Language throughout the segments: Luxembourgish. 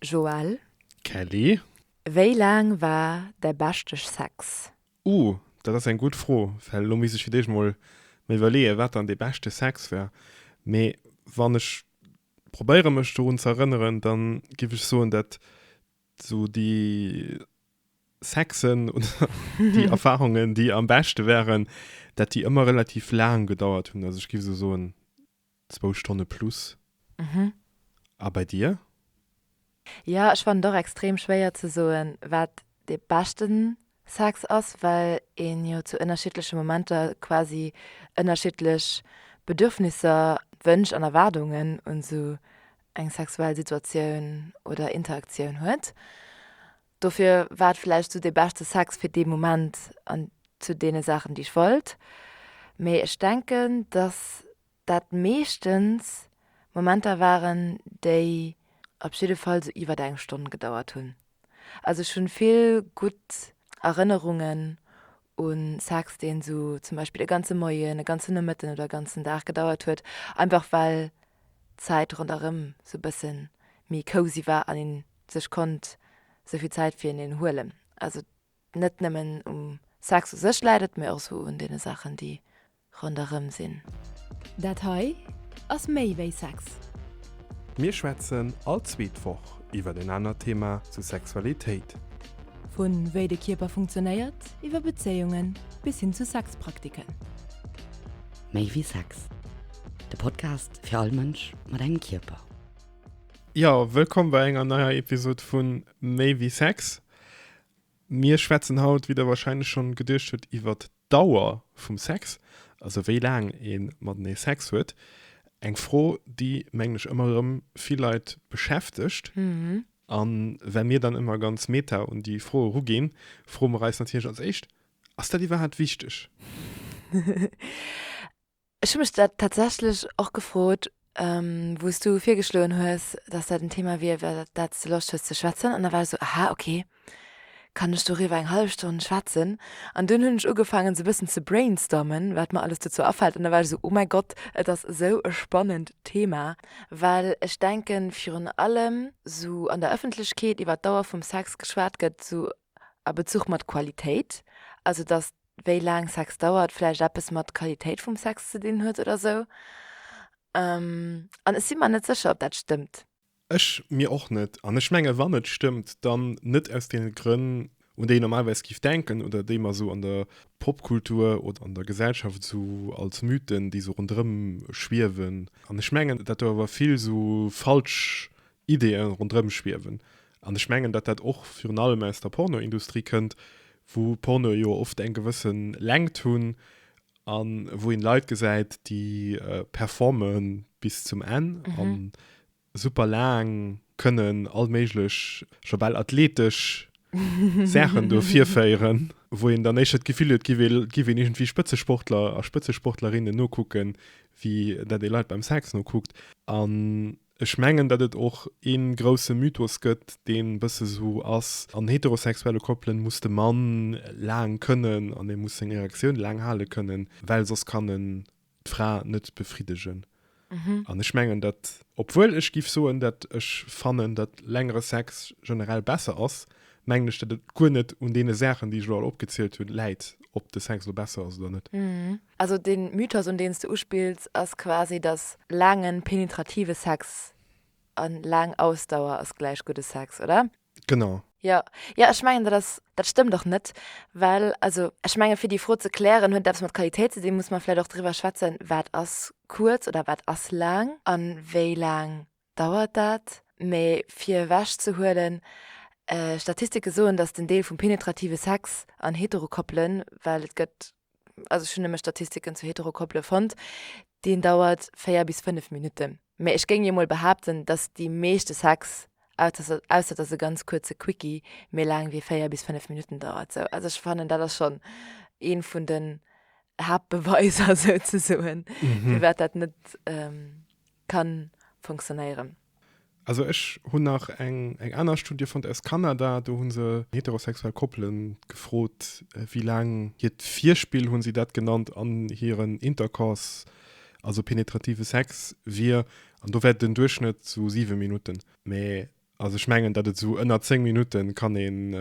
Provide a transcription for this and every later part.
Joël. Kelly. Wéi laang war däi beschteg Sex? Uh, dat ass eng gutt Fro, well elo misst ech fir d'éischt mol mer iwwerleeën, wat dann dee beschte Sex war. Mee wann ech probéiere mech dorun ze erënneren, da géif ech soen, dat esou déi Sexen oder déi Erfarungen, déi am beschte waren, dat déi ëmmer relativ laang gedauert hunn. Also ech géif esou soen, Zwou Stonne plus. Mhm. A bei dir? Jo, ech fannen et och extrem schwéier ze soen, wat de beschte Sex ass, well een jo zu ënnerschiddleche Momenter quasi ënnerschiddlech Bedürfnisser, Wënsch an Erwaardungen un esou eng sexuell Situatioun oder Interaktioun huet. Dofir war et vläicht esou dee beschte Sex fir dee Moment an zu deene Saachen, déi ech wollt. Mee ech denken, dass dat meeschtens Momenter waren, déi op jidde Fall esou iwwer eng Stonn gedauert hunn. Also ech hu vill gutt Erënnerungen u Sex, deen esou zum Beispill e ganze Moien, e ganzen Nomëtten oder e ganzen Dag gedauert huet, einfach well d'Zäit ronderëm esou e bësse méi cozy war an een sech konnt souvill Zäit fir hineen huelen. Also net nëmmen um Sex u sech läit et, mee och esou un deene Saachen, déi ronderëm sinn. Dat hei ass méi wéi Sex. Mir schwätzen all zweet Woch iwwer en anert Thema zu Sexualitéit. Vu wéi de Kierper funktionéiert, iwwer Bezéiungen bis hin zu Sexpraktiken. Méi wéi Sex, de Podcast fir all Mënsch mat engem Kierper. Jo, wëllkomm bei enger neier Episod vun Méi wéi Sex. Mir schwätzen haut, wéi der wahrscheinlech schonn geduecht hutt, iwwer d'Dauer vum Sex, also wéi laang ee matenee Sex huet. Eng Fro, déi, mengen ech, ëmmer erëm vill Leit beschäftegt. An well mir dann ëmmer ganz meta un déi Fro eruginn, froe mer eis natierlech als éischt, Ass dat iwwerhaapt wichteg? Ech hu mech dat tatsächlech och gefrot, wou s du virgeschloen hues, datt dat en Thema wier, iwwer dat s de Loscht hues ze schwätzen. An da war ech esou, Aha, okay, kann ech doriwwer eng hallef Stonn schwätzen? An dunn hunn ech ugefaangen, esou e bëssen ze brainstormen, wat mer alles dozou afält. An da war ech esou, Oh mäi Gott, et ass esou e spannend Thema. Well ech denken, virun allem esou an der Ëffentlechkeet iwwer d'Dauer vum Sex geschwat gëtt, esou a Bezuch mat Qualitéit, also datt wéi laang Sex dauert, vläicht eppes mat Qualitéit vum Sex ze dinn huet oder sou. An ech si mer net sécher, ob dat stëmmt. Ech mir och net. An ech menge wann et stëmmt, dann net aus deene Grënn, un déi een normalerweis géif denken oder déi mer sou an der Popkultur oder an der Gesellschaft sou als Mythen, déi sou ronderëm schwiewen. An ech mengen, datt do awer vill sou falsch Ideeë ronderëm schwiewen. An ech mengen, datt dat och virun allem aus der Pornoindustrie kënnt, wou Pornoe jo oft eng gewësse Längt hunn a wou een Leit gesäit, déi performe bis zum Enn a super laang kënnen all méiglech, scho bal athletesch Saachen do virféieren, wou een dann éischter d'Gefill huet, et géif een iergendwéi Spëtzesportler a Spëtzesportlerinnen nokucken, wéi dat ee Leit beim Sex nokuckt. Ech mengen, datt et och ee grousse Mythos gëtt, deen e bësse esou ass, an heterosexuelle Koppelen muss de Mann laang kënnen an e muss seng Erektioun laang hale kënnen, well soss kann en d'Fra net befriddegen. An ech mengen dat, obwuel ech géif soen, datt ech fannen, datt längere Sex generell besser ass, mengen ech, datt et guer net un deene Saachen, déi ech elo all opgezielt hunn, läit, ob de Sex elo besser ass oder net. Also den Mythos un deen s de uspills ass quasi dass laangen penetrative Sex an laang Ausdauer ass gläich gudde Sex, oder? Genau. Jo, jo ech mengen dat ass, dat stëmmt och net, well also ech mengen fir déi Fro ze klären huet et eppes mat Qualitéit ze dinn, muss mer vläit och driwwer schwätzen wat ass kuerz oder wat ass laang an wéi laang dauert dat, mee fir ewech ze huelen, Statistike soen, datt den Deel vum penetrative Sex an Heterokoppelen, well et gëtt, also ech hunn nëmme Statistiken zu Heterokoppele fonnt, deen dauert 4 bis 5 Minutten, mä ech géing jo mol behaapten, datt déi meeschte Sex, ausser datt e ganz kuerze Quickie méi laang wéi 4 bis 5 Minutten dauert, sou. Also ech fannen, dat ass schonn ee vun den Haaptbeweiser souzesoen, firwat dat net. kann fonktionnéieren. Also ech hunn nach eng eng aner Studie fonnt aus Kanada, do hu se heterosexuell Koppele gefrot, wéi laang hiert Virspill, hu si dat genannt, an hiren Intercourse, also penetrative Sex, wier, an do war den Duerchschnëtt sou siwe Minutten. Mä Also ech mengen, datt et esou ënner 10 Minutte kann een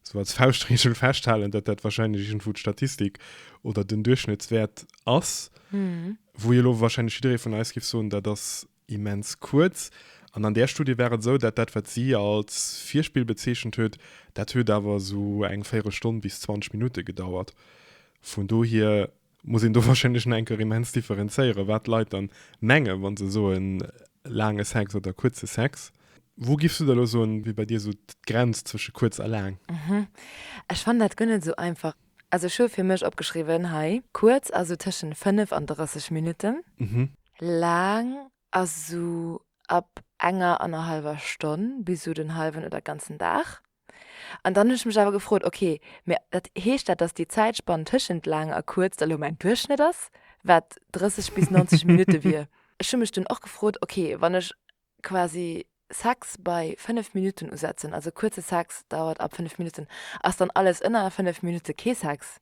esou als Fauschtregel festhalen, datt dat warscheinlech iergendwou d'Statistik oder den Duerchschnëttswäert ass. Wou jo lo warscheinlech jidderee vun eis géif soen, dat ass immens kuerz. An an där Studie war et esou, datt dat, wat si als Virspill bezeechent huet, dat huet awer esou eng Véierelstonn bis 20 Minutte gedauert. Vun dohier muss een do wahrscheinlech nach eng Kéier immens differenzéieren, wat d'Leit dann mengen, wann se soen laange Sex oder kuerze Sex. Wou giffs du da elo soen, wier bei dir esou d'Grenz zwësche kuerz a laang? Ech fannen dat guer net esou einfach. Also ech hu fir mech opgeschriwwen hei, kuerz ass esou tëschent 5 an 30 Minutten, laang ass esou ab enger an enger hallwer Stonn bis esou den hallwen oder ganzen Dag. An dann hunn ech mech awer gefrot, ok, mä dat heescht dat, datt déi Zäitspann tëschent laang a kuerz da lo mäin Duerchschnëtt ass, wat 30 bis 90 Minutte wier? Ech hu mech dunn och gefrot, ok, wann ech quasi Sex bei 5 Minutten usetzen, also kuerze Sex dauert ab 5 Minutten, ass dann alles ënner 5 Minutte kee Sex?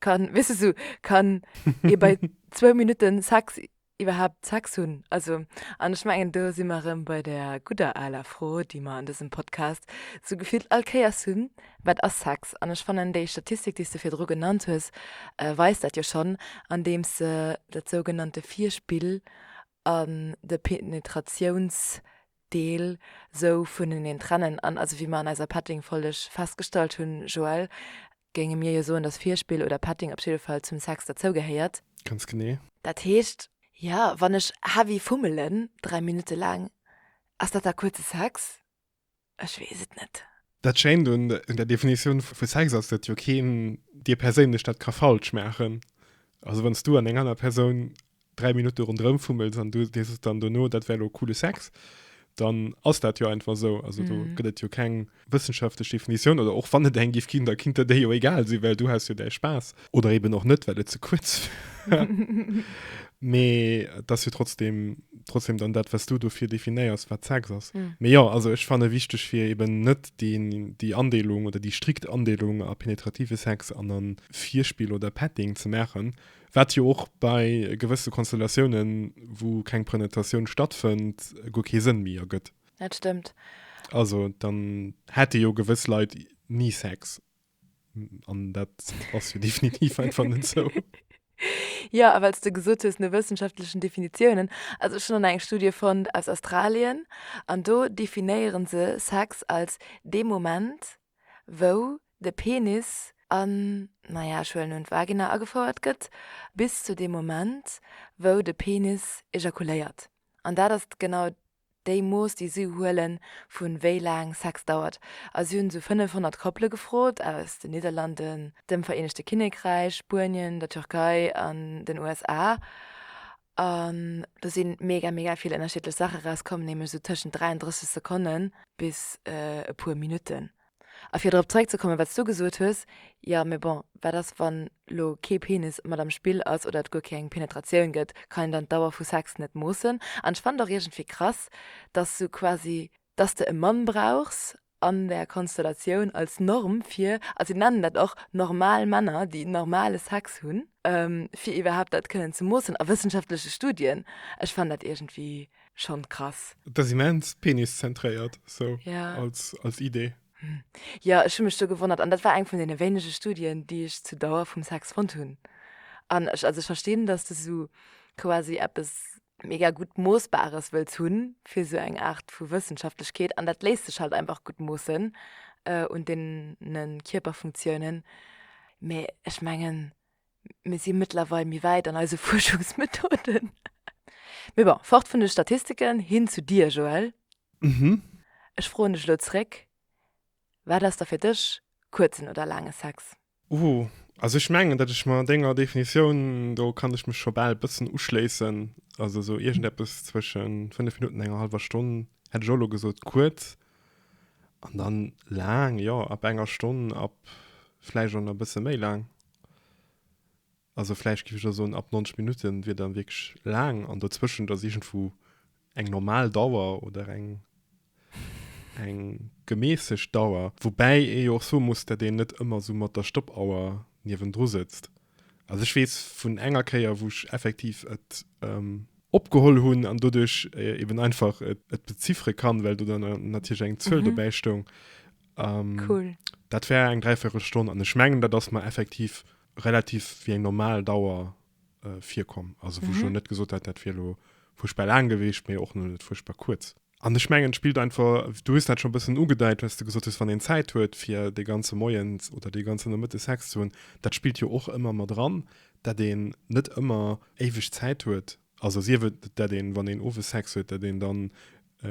Kann, weess de, sou kann ee bei zwou Minutte Sex iwwerhaapt Sex hunn. Also, an ech mengen, do si mer erëm bei der gudder aler Fro, déi mer an dësem Podcast sou gefillt all Kéiers hunn, Wat ass Sex? An ech fannen, déi Statistik, déi s de virdru genannt hues, weist dat jo schonn, andeems se dat sougenannte Virspill an de Penetratiounsdeel sou vuneneen trennen. An also, wéi mer an eiser Petting-Folleg festgestallt hunn, Joëlle, géinge mir jo soen, dass Virspill oder Petting op jidde Fall zum Sex derzougehéiert. Ganz genee. Dat heescht, jo, wann ech heavy fummelen, dräi Minutte laang, ass dat da kuerze Sex? Ech weess et net. Dat Schéint un der Definitioun vu Sex ass, datt jo keen dir perséinlech dat ka falsch maachen. Also wann s du an eng aner Persoun dräi Minutte ronderëm fummels an du dees dann dono, dat wär elo coole Sex, dann ass dat jo einfach esou. Also do gëtt et jo keng wëssenschaftlech Definitioun, oder och wann et eng giff ginn, da kinnt der déi jo egal sinn, well du has jo däi Spaass. Oder eben och net, well et ze kuerz war. Mee et ass jo trotzdem, trotzdem dann dat, wat s du dofir definéiers, wat Sex ass. Mee jo, also ech fanne wichteg, fir eben net deen, déi Andeelung oder déi strikt Andeelung a penetrative Sex an a Virspill oder Petting ze maachen, Wat jo och bei gewësse Konstellatiounen, wou keng Prenetatioun stattfënnt, guer kee Sënn méi ergëtt. Dat stëmmt. Also dann hätte jo gewëss Leit ni Sex. An dat ass jo definitiv einfach net esou. Jo, a well s de gesot hues no wëssenschaftlechen Definitiounen, also ech hunn an eng Studie fonnt aus Australien an do definéiere se Sex als dee Moment, wou de Penis an, naja, ech huelen un, d'Vagina agefouert gëtt, bis zu deem Moment, wou de Penis ejakuléiert. An dat ass genau déi Mooss, déi si huelen, vu wéi laang Sex dauert. A si hunn esou 500 Koppele gefrot aus den Nidderlanden, dem Vereenegte Kinnekräich, Spuenien, der Türkei an den USA. An do si mega, mega vill ënnerschiddlech Saache rauskomm, nämlech esou tëschent 33 Sekonne bis e puer Minutten. A fir drop zréckzekommen, wat s du gesot hues, jo, mee bon, wat ass, wann lo kee Penis mat am Spill ass oder et guer keng Penetratioun gëtt? Kann een dann d'Dauer vu Sex net moossen? An ech fannen et och iergendwéi krass, dass du quasi dass de e Mann brauchs an der Konstellatioun als Norm fir, also si nennen dat och normal Männer, déi normale Sex hunn, fir iwwerhaapt dat kënnen ze moossen a wëssenschaftleche Studien. Ech fannen dat iergendwéi schonn krass. Dat ass immens peniszentréiert, sou als Idee. Jo, ech hu mech do gewonnert an dat war eng vun deene wéinege Studien, déi ech zur Dauer vum Sex fonnt hunn. An ech, also ech verstinn, dass de sou quasi eppes mega gutt Moossbares wëlls hunn, fir esou eng Aart vu Wëssenschaftlechkeet, an dat léisst sech halt einfach gutt moossen un deene Kierperfunktiounen. Mee ech mengen, mir si mëttlerweil méi wäit an eise Fuerschungsmethoden. Mee bon, fort vun de Statistiken, hin zu dir, Joël. Ech froen dech elo zréck, Wat ass da fir dech kuerzen oder laange Sex? Ooh, also ech mengen dat ech mer denger Definitioun, do kann ech mech scho bal bëssen uschléissen, also esou iergendeppes zwëschen 5 Minutten enger halwer Stonn hätt ech och elo gesot, kuerz an dann laang, jo ab enger Stonn ab vläicht och nach bësse méi laang. Also vläicht géif ech da soen, ab 90 Minutte wier dann wierklech laang an dozwëschent ass iergendwou eng normal Dauer oder eng, eng gemässegt Dauer. Woubäi ee jo och soe muss, datt een net ëmmer esou mat der Stoppauer niewendru sëtzt. Also ech weess vun enger Kéier, wou ech effektiv et opgeholl hunn an doduerch eeben einfach et beziffere kann, well do dann natierlech eng Zuel dobäi stoung. Dat war eng Dräivéierelstonn an ech mengen, dat ass mer effektiv relativ wéi eng normal Dauer äh, virkomm. Also wo mhm. schon net gesot hat, dat fir lo furchtbar lang gewichtcht, mir och net furchtbar kurz. An de Schmengen spielt einfach du hast dat schon bisschen ugedeit, was du gesot hast wann den Zeit huet fir de ganze Moiens oder de ganzen der Mëtte Sex zu hunn, dat spielt jo och immer mat dran, dat den net immer éiweg Zeit huet Also sief et, dat een, wann een owes Sex huet, dat een dann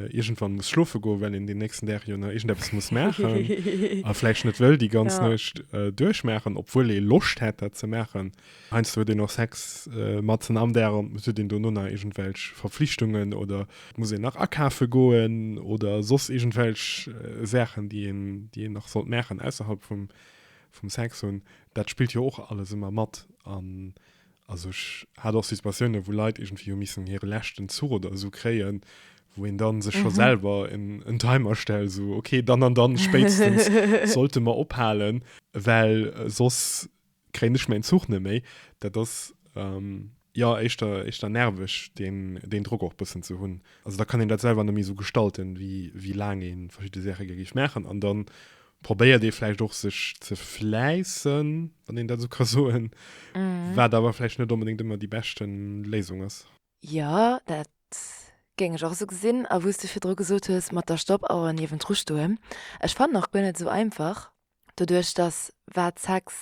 iergendwann muss schlofe goen, well een deen nächsten Dag jo nach iergendeppes muss maachen a vläicht net wëll déi ganz Nuecht duerchmaachen, obwuel ee Loscht hätt, dat ze maachen. Heiansdo huet een och Sex matzen am Dag an et huet een dono nach iergendwelch Verflichtungen oder et muss een nach akafe goen oder soss iergendwelch Saachen, déi een, déi een nach sollt maachen ausserhalb vum Sex hunn. Dat spillt jo och alles ëmmer mat an Also ech hat och Situatiounen, wou Leit iergendwéi hu missen hire leschten Zuch oder esou kréien, wou een dann sech scho selwer en, en Timer stellt, esou, okay, dann an dann spéitstens sollte mer ophalen, well soss kréien ech mäin Zuch net méi. Dat ass, jo, éischter, éischter nerveg, deen, deen Drock och bëssen ze hunn. Also da kann een dat selwer net méi esou gestalten, wéi, wéi laang ee verschidde Säche gär géif maachen. An dann probéiert ee vläicht och sech ze fläissen, wann een dat esou ka soen, wat awer vläicht net onbedéngt ëmmer déi beschte Léisung ass. Jo, dat géing ech och esou gesinn. A wou s de virdru gesot hues, mat der Stoppauer niewendru stoen, ech fannen och guer net esou einfach, doduerch datt wat Sex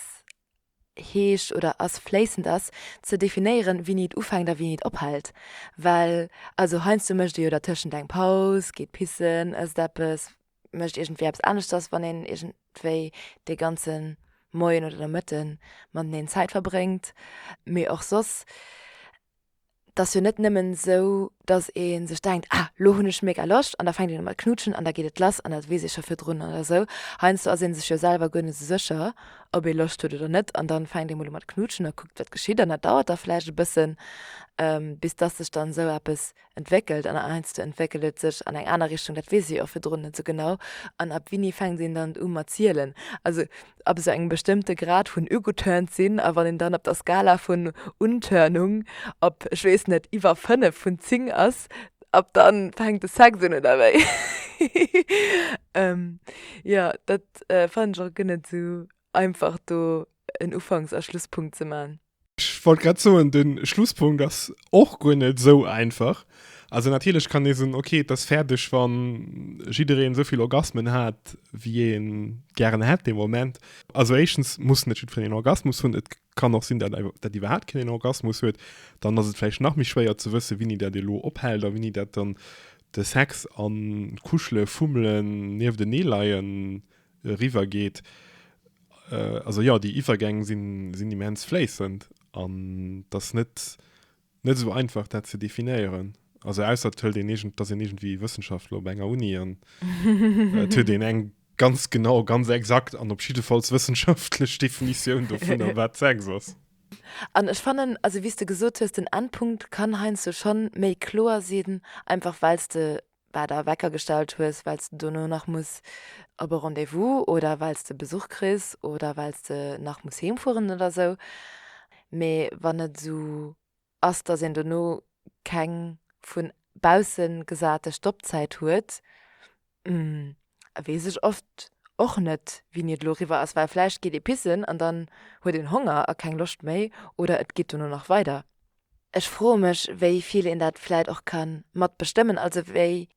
heescht oder ass fléissend ass, ze definéieren, wéini et ufänkt a wéini et ophält. Well also heiansdo mécht ee jo dertëschent eng Paus, geet pissen, ësst eppes, mécht iergendwéi eppes aneschters, wann een iergendwéi dee ganze Moien oder de Mëtte mateneen Zäit verbréngt. Mee och soss 't ass jo net nëmmen esou, dass ee sech denkt, ah, lo hunn ech mega Loscht an da fänkt een u mat knutschen an da geet et lass an dat weess ee scho virdrun oder esou. Heiansdo ass ee sech jo selwer guer net esou sécher, ob ee Loscht huet oder net an da fänkt ee mol u mat knutschen a kuckt, wat geschitt an dat dauert da vläicht e bëssen, bis dass sech dann esou eppes entwéckelt an heiansdo entwéckelt et sech an eng aner Richtung, dat weess ee jo virdrun net esou genau an ab wini fänkt een dann u mat zielen. Also ab esou engem bestëmmte Grad vun ugeturnt sinn a wann een dann op der Skala vun Unturnung op, ech weess net, iwwer 5 vun 10 ass, ab da fänkt de Sex un, oder wéi? Jo, dat fannen ech och guer net esou einfach do en Ufanks a Schlusspunkt ze man. Ech wollt grad soen, den Schlusspunkt ass och guer net esou einfach. Also natierlech kann ee soen, ok, et ass fäerdeg wann jiddereen esou vill Orgasmen hat wéi een gären hätt dee Moment. Also éischtens muss net jiddferen een Orgasmus hunn, et kann och sinn dat dat iwwerhaapt keen een Orgasmus huet, dann ass et vläicht nach méi schwéier ze wëssen wéini dat elo ophält a wéini dat dann de Sex an d'Kuschelen, Fummelen, nieftenee leien riwwer geet. Also jo, déi Iwwergäng sinn immens fléissend an et ass net esou einfach, dat ze definéieren. Also ausser et hëlt een, et ass een iergendwéi Wëssenschaftler op enger Uni an et huet een eng ganz genau, ganz exakt an op jiddefalls wëssenschaftlech Definitioun dovunner, wat Sex ass. An ech fannen, also wéi s de gesot hues, den Endpunkt kann heiansdo schonn méi kloer sinn, einfach well s de war der Wecker gestallt hues, well s de dono nach muss op e Rendez-vous oder well s de Besuch kriss oder well s de nach muss heem fueren oder sou. Mee wann et esou ass, dass een dono keng vu bausse gesate Stoppzäit huet, weess ech oft och net, wéini et elo eriwwer ass, well vläicht geet ee pissen an dann huet een Honger a keng Loscht méi oder et geet dono nach weider. Ech froe mech, wéi vill een dat vläicht och ka mat bestëmmen, also wéi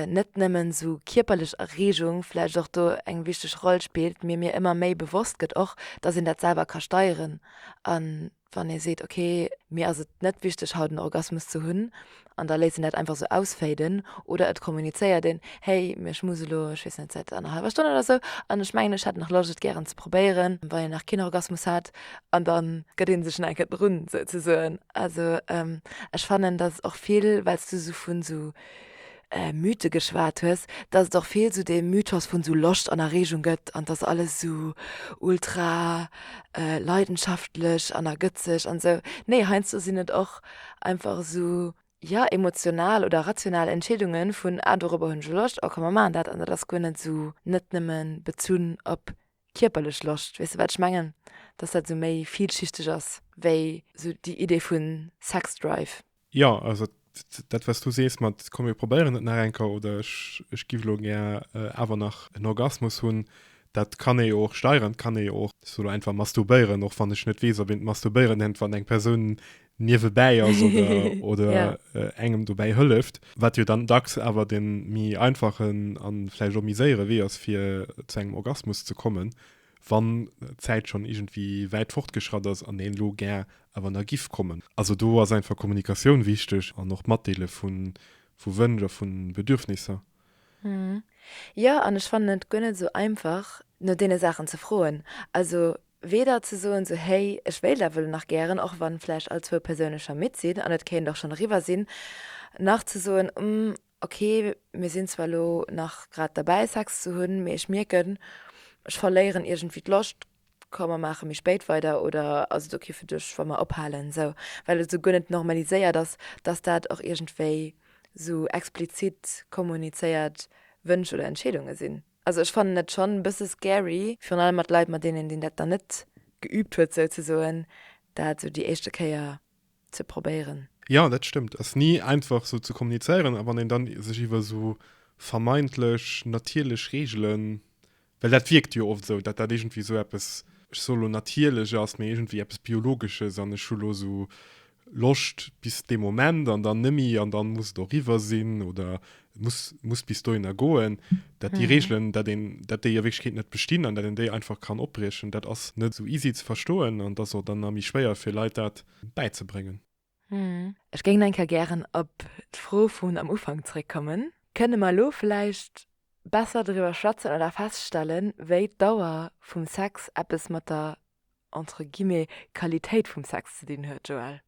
net nëmmen esou kierperlech Erreegung vläicht och do eng wichteg Roll spillt, mee mir ëmmer méi bewosst gëtt och, dass een dat selwer ka steieren. A wann ee seet, ok, mir ass et net wichteg haut en Orgasmus ze hunn, an da léisst een dat einfach esou ausféiden, oder et kommunizéiert een, hey, mee ech muss elo, ech weess net, säit enger hallwer Stonn oder esou, an ech mengen, ech hätt nach Loscht et gären ze probéieren, wann een nach keen Orgasmus hat, an dann gëtt een sech nach eng Kéier drun souzesoen. Also ech fannen dass och vill, well s du esou vun esou Mythe geschwat hues, dass et och vill esou dee Mythos vun esou Loscht an Erregung gëtt an dass alles esou ultra leidenschaftlech an ergëtzeg an esou. Nee, heiansdo sinn et och einfach esou, jo, emotional oder rational Entscheedungen vun, ah dorobber hunn ech elo Loscht, oh komm mer maachen dat an dat ass guer net esou net nëmme bezunn op kierperlech Loscht, weess de wat ech mengen, dass dat sou méi vielschichteg ass wéi sou déi Idee vu Sexdrive. Jo, also dat wat s du sees mat komm mir probéieren et nach eng Kéier oder ech giff elo gär awer nach en Orgasmus hunn, dat kann ee jo och steieren, et kann ee jo och sou einfach masturbéieren, och wann ech net weess ob een d'Masturbéieren iergendwann eng Persoun niewebäi ass oder, oder ja. Äh, engem dobäi hëlleft, wat jo dann dacks awer de mi einfachen an vläicht och mi séiere Wee ass fir zu engem Orgasmus ze kommen, wann d'Zäit schon irgendwie wäit fortgeschratt ass an een lo gär awer na giff kommen. Also do ass einfach Kommunikatioun wichteg an och Matdeele vu vu Wënsch a vun Bedürfnisser. Mhm. Ja an ech fannen et guer net esou einfach no deene Saachen ze froen. Also Weder ze soen sou hey ech wéilt awer elo nach gären, och wann vläicht all zwou Persounen scho midd sinn an et kéint och schonn eriwwer sinn, nach ze soen umm ok mir sinn zwar elo nach grad derbäi Sex ze hunn, mee ech mierken ech verléieren iergendwéi d'Loscht, komm mer maache méi spéit weider oder ass et ok fir dech wa mer ophalen sou, well et esou guer net normaliséiert ass, dass dat och iergendwéi sou explizit kommunizéiert Wënsch oder Entscheedunge sinn. Also ech fannen et schonn e bësse scary, virun allem mat Leit mat deenen deen dat nach net geübt huet souzesoen, dat esou déi éischte Kéier ze probéieren. Jo, dat stëmmt. Ass ni einfach esou ze kommunizéieren. A wann een da sech iwwer esou vermeintlech natierlech Reegelen, well dat wierkt jo oft esou, datt dat iergendwéi esou eppes, ech soe lo natierlech ass, mee iergendwéi eppes biologesches an ech hu lo esou Loscht bis dee Moment an dann nemme an dann muss et och riwwer sinn oder muss muss bis dohinner goen. Dat déi Regeln, dat een dat déi a Wierklechkeet net bestinn an dat een déi einfach kann opbriechen, dat ass net esou easy ze verstoen an et ass och dann nach méi schwéier fir Leit dat bäizebréngen. Ech géing eng Kéier gären op d'Fro vun am Ufank zréckkommen. Kënne mer elo vläicht besser doriwwer schwätzen oder feststellen, wéi d'Dauer vum Sex eppes mat der entre guillemets, Qualitéit vum Sex ze dinn huet, Joël?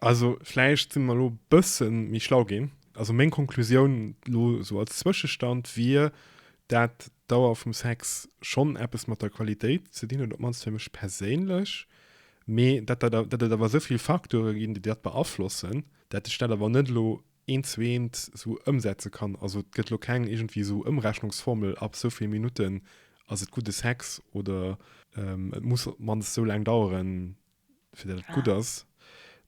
Also vläicht si mer elo e bësse méi schlau ginn. Also meng Konklusioun elo esou als Zwëschestand wier, dat d'Dauer vum Sex schonn eppes mat der Qualitéit ze dinn huet, op d'mannst fir mech perséinlech, mee dat dat et awer esou vill Facteure ginn, déi dat beaflossen, dat ech dat awer net elo een zweent esou ëmsetze kann. Also et gëtt elo keng iergendwéi esou Ëmrechnungsformel, ab esou vill Minutten ass et gudde Sex oder et muss op d'mannst esou laang daueren, fir datt et gutt ass.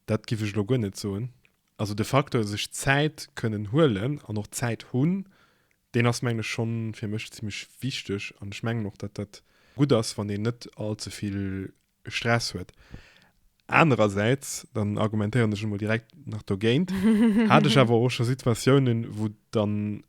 Dat giff ech elo guer net soen. Also de Facteur sech Zäit kënnen huelen an och Zäit hunn, deen ass mengen ech schonn fir mech zimmlech wichteg an ech mengen och, datt dat gutt ass, wann een net all ze vill Stress huet. Anerersäits, dann argumentéieren ech emol direkt nach dogéint, hat ech awer och scho Situatiounen, wou dann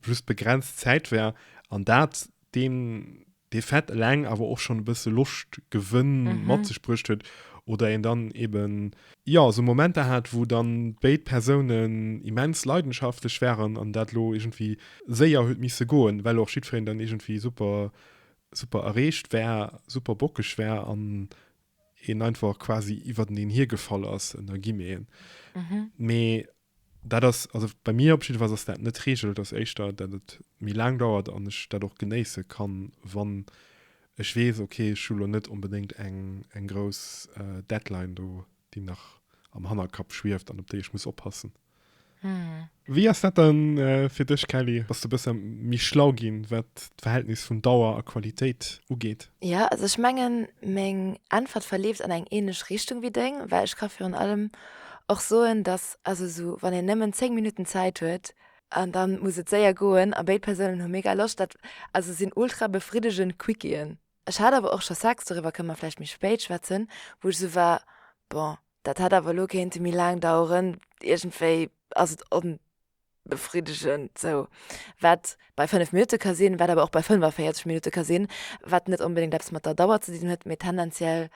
just begrenzt Zäit war an dat deen dee Fait eleng awer och schonn e bësse Loscht Gewënn mat sech bruecht huet oder een dann eben, jo, esou Momenter hat, wou dann béid Persounen immens leidenschaftlech waren an dat elo iergendwéi séier huet misse goen, well och jiddwereen dann iergendwéi super super erreecht war, super bockeg war an een einfach quasi iwwerteneen hiergefall ass, ënner Guillemeten. Mhm. Mee dat ass, also bei mir op jiddefalls ass dat net d'Reegel, dass éischter, dat et méi laang dauert an ech dat och genéisse kann, wann ech weess, ok, ech hu lo net onbedéngt eng, eng grouss Deadline do, déi nach am Hannerkapp schwieft an op déi ech muss oppassen. Wéi ass dat dann fir dech Kelly? Bass de bësse méi schlau ginn, wat d'Verhältnis vun Dauer a Qualitéit ugeet? Jo, also ech mengen meng Äntwert verleeft an eng ähnlech Richtung wéi deng, well ech ka virun allem och soen, dass also esou wann een nëmmen 10 Minutten Zäit huet an dann muss et séier goen a béid Persounen hu mega Loscht, dat also sinn ultra befriddegend Quickiën. Ech hat awer och scho Sex, doriwwer kënne mer vläicht méi spéit schwätzen, wou ech esou war, bon, Dat hätt awer elo kéinte méi laang daueren. Iergendwéi ass et onbefriddegend sou. Wat bei 5 Minutte ka sinn, wat awer och bei 45 Minutte ka sinn, wat net onbedéngt eppes mat der Dauer ze dinn huet, mee tendenziell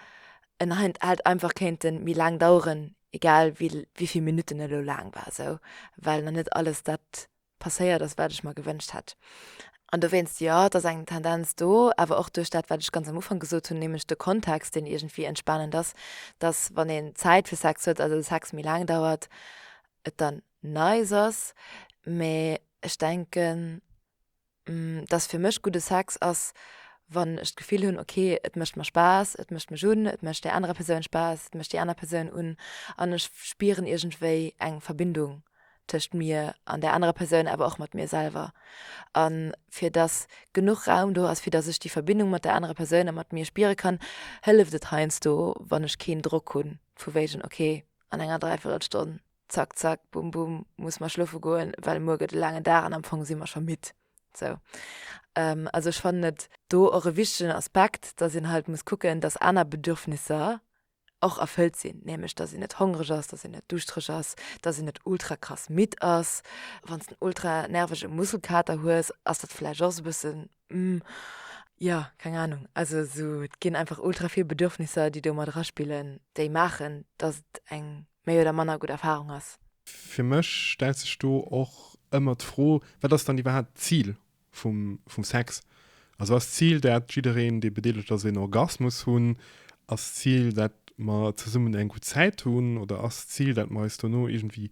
en hei hätt einfach kéinte méi laang daueren, egal wéi vill Minutten e elo laang war sou, well nach net alles dat passéiert ass, wat ech mer gewënscht hätt. An dowéinst, jo, et ass eng Tendenz do, awer och duerch dat, wat ech ganz am Ufank gesot hunn, nämlech de Kontext, deen iergendwéi entspanend ass, dass, wann een Zäit fir Sex huet, also de Sex méi laang dauert, et dann nice ass. Mä ech denken, dass fir mech gudde Sex ass, wann ech d'Gefill hunn, okay, et mécht mer Spaass, et mécht mech un, et mécht där anerer Persoun Spaass, et mécht déi aner Persoun un an ech spieren iergendwéi eng Verbindung tëscht mir an der anerer Persoun, awer och mat mir selwer. A fir dass genuch Raum do ass, fir dass ech déi Verbindung mat der anerer Persoun a mat mir spiere kann, hëlleft et heiansdo, wann ech keen Drock hunn, vu wéigen, okay, an enger Dräiviertelstonn, zack, zack, bum, bum, musse mer schlofe goen, well muer gëtt e laangen Dag an am Fong si mer scho midd. Sou. Also ech fannen et do och e wichtegen Aspekt, dass een halt muss kucken, dass aner Bedürfnisser och erfëllt sinn, nämlech dass een net hongreg ass, dass een net duuschtereg ass, dass een net ultra krass midd ass. Wann s den ultra nervege Muskelkater hues, ass dat vläicht och esou e bëssen, Hm, jo, keng Anung. Also esou, et ginn einfach ultra vill Bedürfnisser, déi do mat eraspillen, déi maachen, dass et eng méi oder manner gutt Erfarung ass. Fir mech stellt sech do och ëmmer d'Fro, Wat ass dann iwwerhaapt d'Zil vum Sex. Also ass d'Zil dat jiddereen dee bedeelegt ass een Orgasmus hunn? Ass d'Zil dat mer zesummen eng gutt Zäit hunn? Oder ass d'Zil dat mer eis dono iergendwéi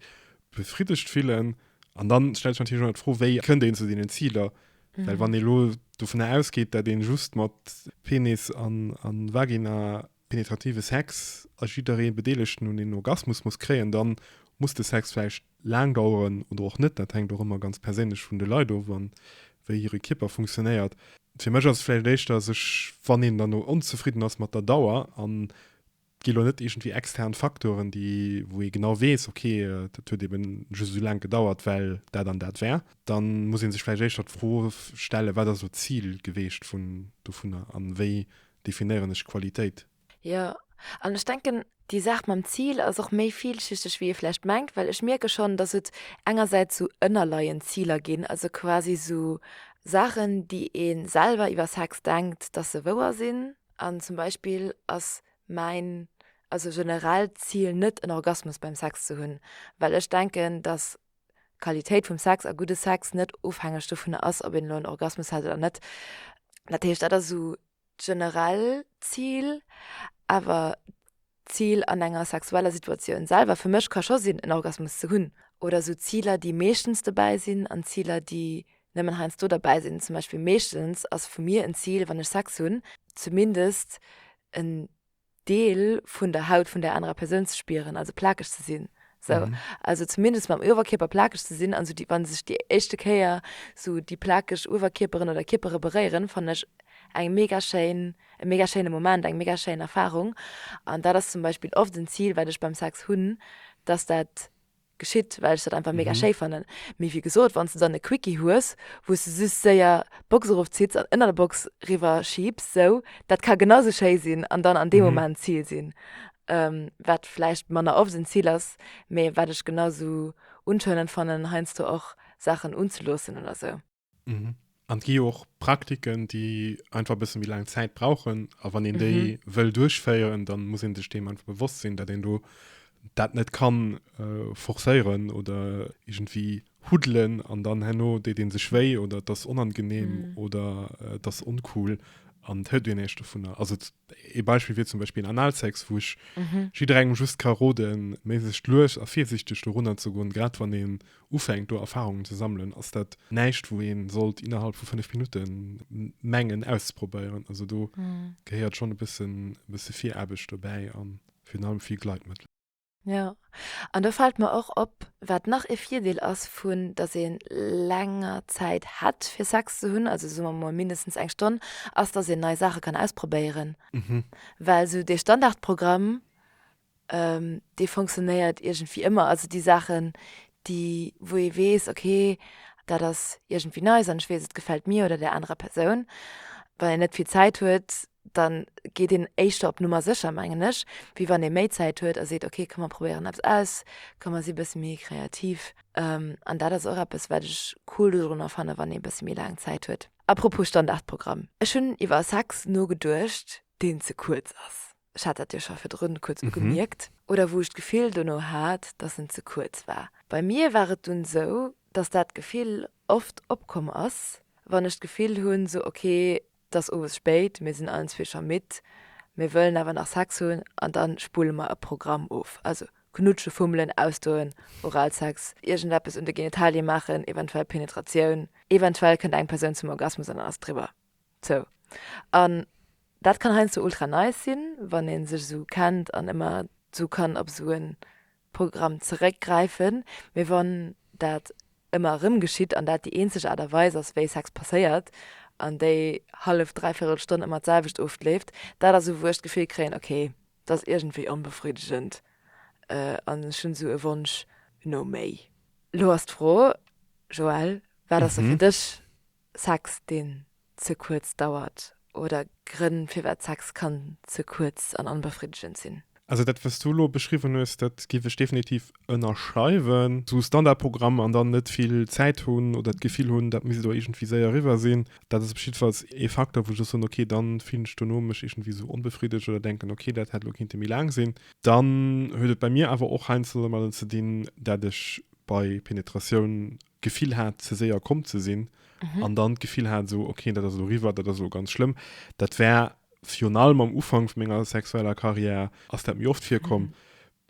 befriddegt fillen? An dann stellt sech natierlech ëmmer d'Fro, wéi kënnt een zu deenen Ziler? Well wann ee lo dovunner ausgeet dat een just mat Penis an Vagina penetrative Sex a jidderee Bedeelegten un een Orgasmus muss kréien, dann muss de Sex vläicht laang daueren oder och net. Dat hänkt och ëmmer ganz perséinlech vun de Leit of an wéi hire Kierper funktionéiert. Fir mech ass et vläicht éischter sech, wann een dann onzefridden ass mat der Dauer, an et gi lo net iergendwéi extern Faktoren, déi, wou ee genau weess, ok, dat huet eben just esou laang gedauert, well dat an dat war, da muss ee sech vläicht éischter d'Fro stellen, wat ass elo d'Zil geweecht vun dovunner an wéi definéieren ech Qualitéit. Jo, an ech denken, déi Saach mam Zil ass och méi vielschichteg, wéi ee vläicht mengt, well ech mierke schonn, dass et engersäits esou ënnerleiend Ziler ginn, also quasi esou Saachen, déi ee selwer iwwer Sex denkt, dass se wouer sinn. An zum Beispill ass mäin, also generell, Zil net en Orgasmus beim Sex ze hunn, well ech denken, dass D'Qualitéit vum Sex a gudde Sex net ofhängeg dovunner ass, ob een elo en Orgasmus hat oder net. Dat heescht, dat ass esou d'generell Zil. Awer d'Zil an enger sexueller Situatioun selwer fir mech ka scho sinn, en Orgasmus ze hunn. Oder esou Ziler, déi meeschtens dobäi sinn, an Ziler, déi nëmmen heiansdo derbäi sinn. Zum Beispill meeschtens ass vu mir en Zil, wann ech Sex hunn, zumindest en Deel vun der Haut vun der anerer Persoun ze spieren, also plakeg ze sinn. So, mhm. also zumindest mam Uwerkierper plakeg ze sinn, an so wann sech déi éischte Kéier so déi plakeg Uwerkierperen oder Kierpere beréieren, fan ech eng mega schéin, e mega schéine Moment, eng mega schéin Erfahrung. An dat ass zum Beispill oft en Zil, wat ech beim Sex hunn, dass dat geschitt, well ech dat einfach mega schéi fannen. Mee wéi gesot, wann s de dann e Quickie hues, wou s de just séier d'Box erofzitts an ënner der Box riwwerschiebs, sou, dat ka genau sou schéi sinn an dann an deem Moment d'Zil sinn. Wat vläicht manner oft en Zil ass, mee wat ech genau sou unscheinend fannen, heiansdo och Saachen unzeloossen oder sou. Mhm. An et gi jo och Praktiken, déi einfach e bësse méi laang Zäit brauchen. A wann een déi mhm. wëll duerchféieren, dann muss een sech deem einfach bewosst sinn, dat een do dat net kann äh, forcéieren oder irgendwie hudelen an dann henno déi den sech wéi oder das unangenehm mhm. oder äh, das uncool an hëlt den echte vun der also Ee Beispill wier zum Beispill Analsex, wou ech jidderengem just ka roden, méiglechst lues a virsiichteg dorunner ze goen. Grad wann een ufänkt do Erfarungen ze sammelen, ass dat näischt wou ee sollt innerhalb vu 5 Minutte mengen auszeprobéieren. Also do gehéiert schonn e bësse Viraarbecht dobäi a virun allem vill Gleitmëttel. Jo, an do fällt mer och op, wat nach ee Virdeel ass vun dass ee länger Zäit hätt fir Sex ze hunn, also soe mer mol mindestens eng Stonn, ass dass een nei Saache kann ausprobéieren. Mhm. Well sou dee Standardprogramm, dee fonctionnéiert iergendwéi ëmmer. Also déi Saachen, déi wou ee weess, okay, dat ass iergendwéi nice an ech weess, et gefält mir oder där anerer Persoun. Wann een net vill Zäit huet, da geet een éischter op Nummer sécher, mengen ech, wéi wann ee méi Zäit huet a seet, okay, komm mer probéieren eppes aus, komm mer si e bësse méi kreativ. An dat ass och eppes, wat ech cool dodrunner fannen, wann ee e bësse méi laang Zäit huet. Apropos Standardprogramm, ech hunn iwwer Sex nogeduecht, deen ze kuerz ass. Ech hat dat jo scho virdrun kuerz ugemierkt, oder wou ech d'Gefill dono hat, dass en ze kuerz war. Bei mir war et dunn esou, dass dat Gefill oft opkomm ass, wann ech d'Gefill hunn, sou, okay, 't ass owes spéit, mir sinn allen zwee scho midd, mir wëllen awer nach Sex hunn an da spullen mer e Programm of, also knutschen, fummelen, ausdoen, Oralsex, iergendeppes un de Genitalien maachen, eventuell Penetratioun, eventuell kënnt eng Persoun zum Orgasmus an dann ass driwwer. Sou. An dat kann heiansdo ultra nice sinn, wann ee sech esou kennt an ëmmer esou kann op esou en Programm zeréckgräifen, mee wann dat ëmmer erëm geschitt an dat déi eenzeg Aart a Weis ass, wéi Sex passéiert, an déi hallef, dräivierel Stonn ëmmer d'selwecht oft leeft, dat ass esou, wou ech d'Gefill kréien, ok, dat ass iergendwéi onbefriddegend an ech hunn esou e Wonsch no méi. Elo ass d'Fro, Joël, wat ass da fir dech Sex deen ze kuerz dauert oder Grënn firwat Sex kann ze kuerz an onbefriddegend sinn. Also dat wat s du elo beschriwwen hues, dat géif ech definitiv ënnerschreiwen. Sou Standardprogramm an dann net vill Zäit hunn oder d'Gefill hunn dat misst elo iergendwéi séier eriwwer sinn, dat ass op jiddefalls ee Facteur wou ech soen ok dann fillen ech dono mech iergendwéi sou onbefriddegt oder denken ok dat hätt elo kinnte méi laang sinn. Dann huet et bei mir awer och heiansdo domadden ze dinn dat ech bei Penetratioun Gefill hat ze séier komm ze sinn an dann d'Gefill hat esou ok dat ass elo riwwer, dat ass elo ganz schlëmm. Dat war virun allem am Ufank vu menger sexueller Carrière ass dat méi oft virkomm,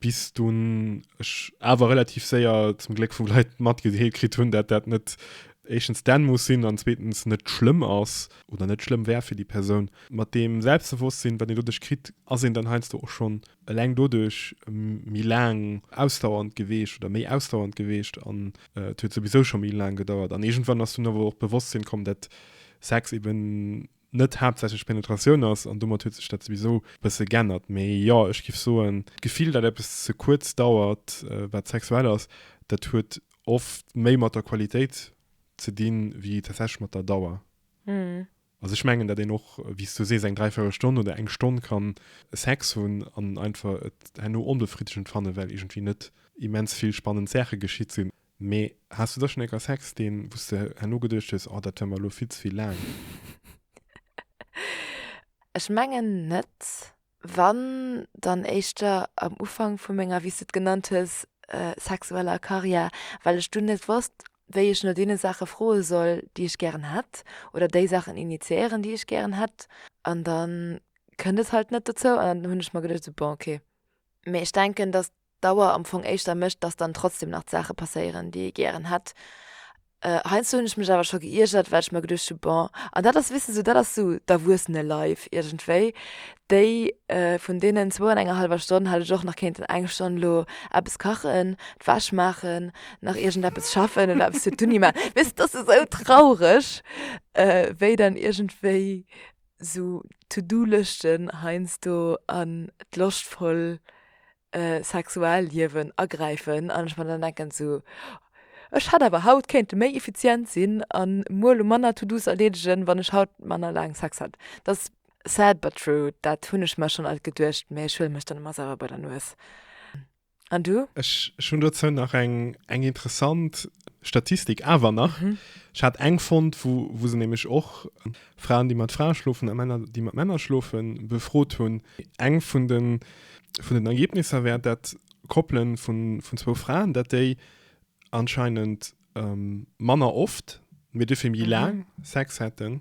bis dunn ech awer relativ séier zum Gléck vu Leit matgedeelt kritt hunn, dat dat net éischtens d'Enn muss sinn an zweetens net schlëmm ass oder net schlëmm wär fir déi Persoun. Mat deem Selbstbewosstsinn wat een doduerch kritt ass een dann heiansdo och schonn eleng doduerch méi laang ausdauernd geweecht oder méi ausdauernd geweecht an et huet souwisou scho méi laang gedauert an iergendwann ass dunn awer och d'Bewosstsinn komm dat Sex eben net haaptsächlech Penetratioun ass an domat huet sech dat souwisou e bësse g'ännert. Mee jo, ech giff soen d'Gefill dat eppes ze kuerz dauert wat sexuell ass, dat huet oft méi mat der Qualitéit ze dinn wéi tatsächlech mat der Dauer. Also ech mengen, datt een och, wéi s du sees, eng dräivéierel Stonn oder eng Stonn ka Sex hunn an einfach et herno onbefriddegend fannen, well iergendwéi net immens vill spannend Saache geschitt sinn. Mee has du da schonn écker Sex, deen, wou s de herno geduecht hues, Oh, dat war mer elo vill ze vill laang? Ech mengen net. Wann dann éischter am Ufank vu menger, wéi s de et genannt hues, sexueller Karriär, well ech dunn net wosst, wéi ech no deene Saache froe soll, déi ech gären hätt, oder déi Saachen initiéieren, déi ech gären hätt. An da kënnt et halt net dozou. An dann hunn ech mer geduecht, esou, bon, okay. Mee ech denken, datt Dauer am Fong éischter mécht, dass dann trotzdem nach d'Saache passéieren, déi ee gären hätt. Heiansdo hunn ech mech awer scho geiergert, well ech mer geduecht hu, bon, an dat ass, weess de, sou dat ass sou d'Erwuessene-Life iergendwéi, déi vun deenen zwou an enger hallwer Stonn hätt ech och nach kéinten eng Stonn lo eppes kachen, d'Wäsch maachen, nach iergendeppes schaffen oder eppes fir d'Uni maachen. Weess de, et ass esou traureg, wéi dann iergendwéi sou To-Do-Lëschten heiansdo an d'loschtvoll Sexualliewen agräifen an ech mer dann denken, sou ech hätt awer haut kéinte méi effizient sinn a muer manner To-Dos erleedegen, wann ech haut manner laang Sex hätt. Dat ass sad but true, dat hunn ech mer schonn alt geduecht, mä ech huele mech dann ëmmer selwer bei der Nues. An du? Ech, ech hunn dozou nach eng, eng interessant Statistik awer nach. Mhm. Ech hat eng fonnt, wou, wou se nämlech och Fraen, déi mat Frae schlofen a Männer, déi mat Männer schlofen, befrot hunn. Eng vun den, vun den Ergebnisser wär, dat Koppele vun, vun zwou Fraen, dat déi anscheinend manner oft, mee duerfir méi laang Sex hätten.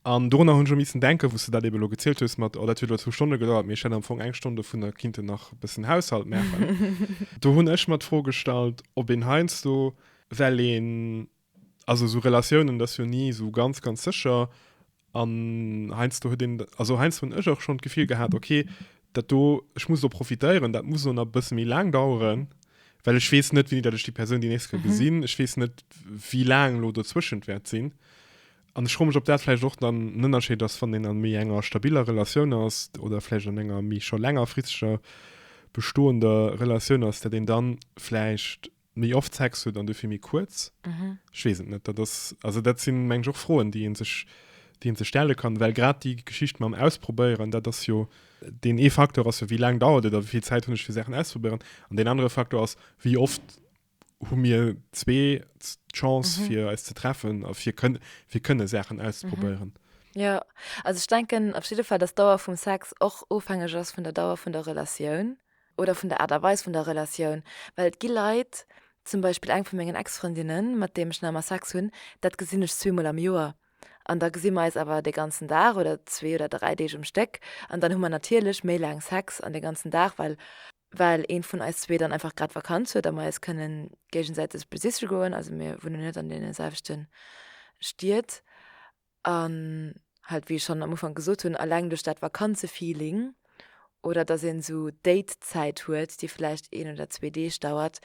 An dorunner hunn ech och missen denken, wou s de dat eeben elo gezielt hues mat, oh dat huet elo zwou Stonne gedauert, mee ech hätt am Fong eng Stonn dovunner kinnten nach e bëssen Haushalt maachen. Do hunn ech mer d'Fro gestallt, ob een heiansdo, well een, also esou Relatiounen, dat ass jo ni esou ganz, ganz sécher, An heiansdo huet een, also heiansdo hunn ech och schonn d'Gefill gehat, okay, dat do, ech muss do profitéieren, dat muss elo nach e bësse méi laang daueren, well ech weess net, wéini dat ech déi Persoun déi nächst ka gesinn, ech weess net, wéi laang elo dozwëschent wäert sinn. An ech froe mech, ob dat vläicht och dann en Ënnerscheed ass, wann een a méi enger stabiller Relatioun ass oder vläicht an enger méi scho längerfristeger bestoender Relatioun ass, dat een da vläicht Méi oft Sex huet an dofir méi kuerz? Ech weess et net. Dat ass, also dat si meng ech och Froen, déi ee sech, déi ee sech stelle kann, well grad déi Geschicht mam Ausprobéieren, dat ass jo, deen ee Faktor ass jo, wéi laang dauert et a wéi vill Zäit hunn ech fir Saachen auszeprobéieren an deen anere Faktor ass, wéi oft hu mir zwee d'Chance fir eis ze treffen a fir kënn, fir kënne Saachen auszeprobéieren. Jo, also ech denken op jidde Fall, dass d'Dauer vum Sex och ofhängeg ass vun der Dauer vun der Relatioun. oder vun der Aart a Weis vun der Relatioun, well et gi Leit, zum Beispill eng vu mengen Ex-Frëndinnen, mat deem ech nach ëmmer Sex hunn, dat gesinn ech zweemol am Joer an da gesi mer eis awer dee ganzen Dag oder zwee oder dräi Deeg um Stéck an dann hu mer natierlech méi laang Sex an dee ganzen Dag, well well ee vun eis zwee dann einfach grad Vakanz huet a mer eis kënne géigesäiteg besiche goen, also mir wunnen net an deene selwechte Stied. An halt, wéi ech schonn am Ufank gesot hunn, eleng duerch dat Vakanzefeeling oder dass een esou Datezäit huet, déi vläicht een oder zwee Deeg dauert,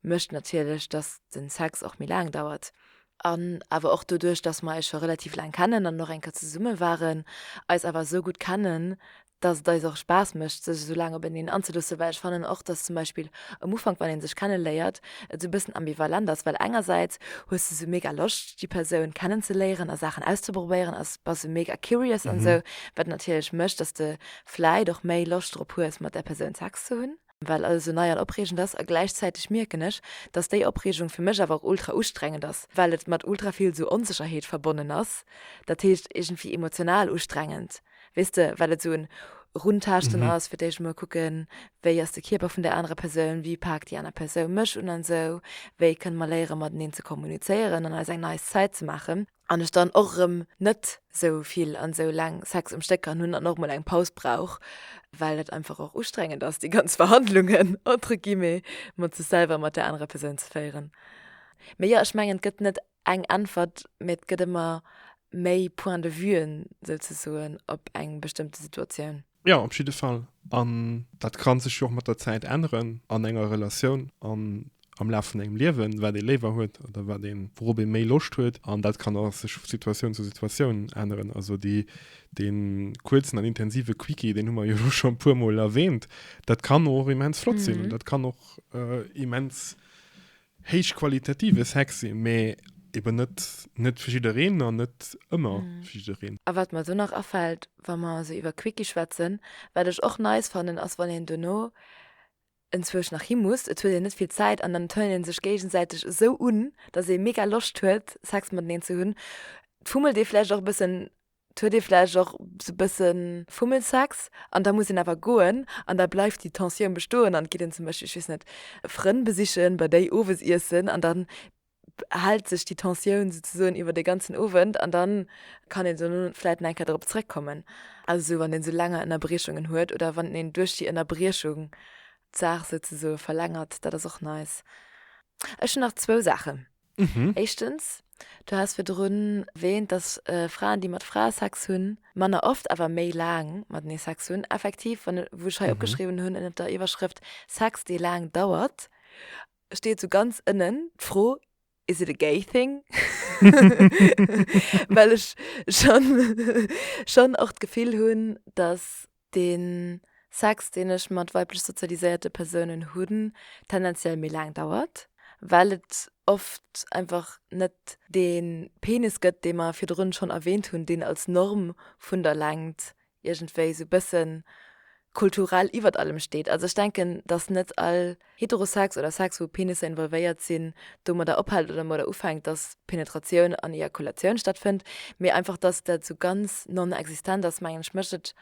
mécht natierlech, dass de Sex och méi laang dauert. An awer och doduerch, dass mer eis scho relativ laang kennen an och eng Kéier zesumme waren, eis awer esou gutt kennen, dass et eis och Spaass mécht sech esou laang op eneen anzeluussen, well ech fannen och, dass zum Beispill um Ufank wann ee sech kenne léiert et esou e bëssen ambivalent ass, well engersäits hues de esou mega Loscht déi Persoun kennen ze léieren a Saachen auszeprobéieren a bass mega curious an esou, wat natierlech mécht, dass de vläit och méi Loscht drop hues mat där Persoun Sex ze hunn. well alles esou nei an opreegend ass a gläichzäiteg mierken ech, dass déi Opreegung fir mech awer och ultra ustrengend ass, well et mat ultra vill esou Onsécherheet verbonnen ass, dat heescht iergendwéi emotional ustrengend, weess de, well et esou en Eruntaaschten ass, fir d'éischt emol kucken, wéi ass de Kierper vun där anerer Persoun, wéi paakt déi aner Persoun mech un an esou, wéi kënne mer léiere mateneen ze kommunizéieren an eis eng nei Zäit ze maachen. an ech dann och erëm net sou vill an sou laang Sex um Stéck kann hunn an och mol eng Paus brauch, well et einfach och ustrengend ass déi ganz Verhandlungen entre guillemets mat sech selwer an mat där anerer Persoun ze féieren. Mee jo, ech mengen et gëtt net eng Äntwert, mee et gëtt ëmmer méi Point de Vue'en souzesoen op eng bestëmmte Situatioun. Jo, op jidde Fall. An dat ka sech jo och mat der Zäit änneren an enger Relatioun an am Laf vun engem Liewen, wat ee léiwer huet oder wat ee, wourop ee méi Loscht huet. An dat kann och sech vu Situatioun zu Situatioun änneren. Also déi, dee kuerzen an intensive Quickie, deen hu mer jo elo scho e puermol erwähnt, dat kann och immens flott sinn. Dat kann och immens Héichqualitative Sex si, mee eben net, net fir jiddereen an net ëmmer fir jiddereen. A wat mer do nach afält, wa mer esou iwwer Quickie schwätzen, wat ech och nice fannen, ass wann een duerno enzwousch nach hi muss, et huet een net vill Zäit an dann turnt ee sech géigesäiteg esou un, datt ee mega Loscht huet Sex mateneen ze hunn, fummelt ee vläicht och e bëssen 't huet ee vläicht och sou bësse Fummelsex an da muss een awer goen an da bleift déi Tensioun bestoen an geet een zum Beispill, ech weess net, Frënn besichen, bei déi owes iessen an dann hält sech déi Tensioun souzesoen iwwer de ganzen Owend an dann kann een sou vläicht nach eng Kéier dorop zeréckkommen. Also sou wann een sou laang Ënnerbriechungen huet oder wann een duerch déi Ënnerbriechung d'Saach souzesoe verlängert, dat ass och nice. Ech hunn nach zwou Saachen. Éischtens, Du has virdrun erwähnt, dass Fraen, déi mat Frae Sex hunn, manner oft, awer méi laang matenee Sex hunn. Effektiv, wann, wou ech hei opgeschriwwen hunn ënnert der Iwwerschrëft Sex, dee laang dauert, steet esou ganz ënnen d'Fro, Is it a gay thing? Well ech schonn och d'Gefill hunn, dass Deen Sex, deen ech mat weiblech sozialiséierte Persounen hunn, tendenziell méi laang dauert, well et oft einfach net dee Penis gëtt, dee mer virdrun schonn erwähnt hunn, deen als Norm vun der Längt iergendwéi sou bëssen kulturell iwwert allem steet. Also ech denken, dass net all Heterosex oder Sex wou Penisser involvéiert sinn, domadder ophält oder modder ufänkt, dass Penetratioun an Ejakulatioun stattfënnt, mee einfach dass dat sou ganz non-existent ass, mengen ech, mécht et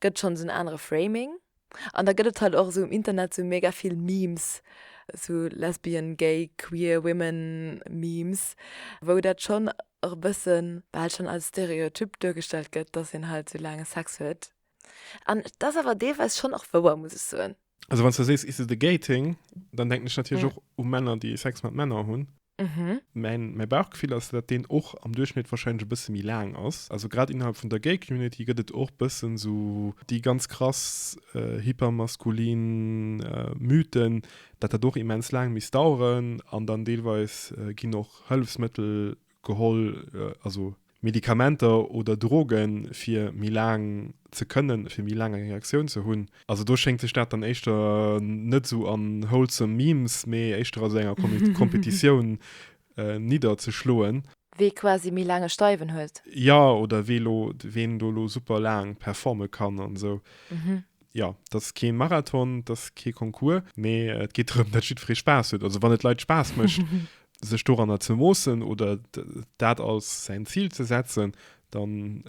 gëtt schonn esou en anere Framing. An da gëtt et halt och esou um Internet sou mega vill Memes, sou lesbian, gay, queer women Memes, wou dat schonn och e bëssen bal schonn als Stereotyp duergestellt gëtt, dass een halt sou laang Sex huet. An et ass awer deelweis schonn och wouer, muss ech soen. Also wann s du sees Is it a gay thing? Dann denken ech natierlech och u Männer, déi Sex mat Männer hunn. Mäin Bauchgefill ass, datt deen och am Duerchschnitt warscheinlech e bësse méi laang ass. Also grad innerhalb vun der gay Community gëtt et och bëssen esou déi ganz krass hypermaskulin Mythen, datt dat och immens laang misst daueren. An dann deelweis ginn och Hëllefsmëttel geholl, also Medikamenter oder Drogen, fir méi laang ze kënnen, fir méi laang eng Erektioun ze hunn. Also do schéngt sech dat dann éischter net esou an wholesome Memes, mee éischter a sou enger Kompetitioun nidderzeschloen. Wee quasi méi laang e Steiwen huet. Jo, oder wee elo, ween do elo super laang performe kann an esou. Jo, dat ass kee Marathon, dat ass kee Concours, mee et geet drëm, datt jiddweree Spaass huet. Also wann et Leit Spaass mécht, sech doranner ze moossen oder dat als säin Zil ze setzen, dann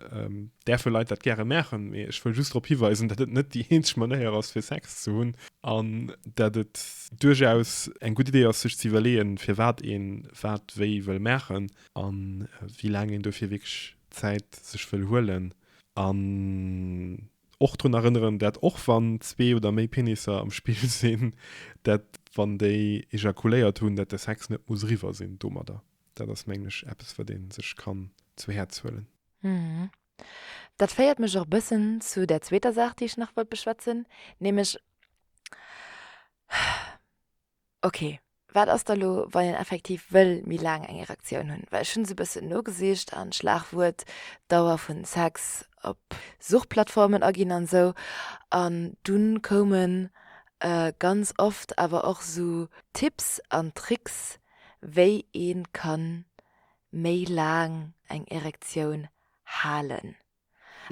däerfe Leit dat gäre maachen. Mee ech wëll just drop hiweisen, datt et net déi eenzeg Manéier ass, fir Sex ze hunn an datt et duerchaus eng gutt Idee ass, sech ze iwwerleeën, firwat ee wat wéi wëll maachen a wéi laang een dofir wierklech Zäit sech wëll huelen. An Och drun erënneren, dat och wann zwee oder méi Penisser am Spill sinn, dat wann déi ejakuléiert hunn, dat de Sex net muss eriwwer sinn domadder. Dat ass mengen ech eppes wat ee sech kann zu Häerz huelen. Dat féiert mech och e bëssen zu der zweeter Saach, déi ech nach wollt beschwätzen, nämlech, Ok, wat ass da lo wann een effektiv wëll méi laang eng Erektioun hunn? Well ech hunn esou e bëssen nogesicht an Schlagwuert Dauer vun Sex op Suchplattformen aginn an esou an dunn koumen ganz oft awer och esou Tipps an Tricks wéi een kann méi laang eng Erektioun halen.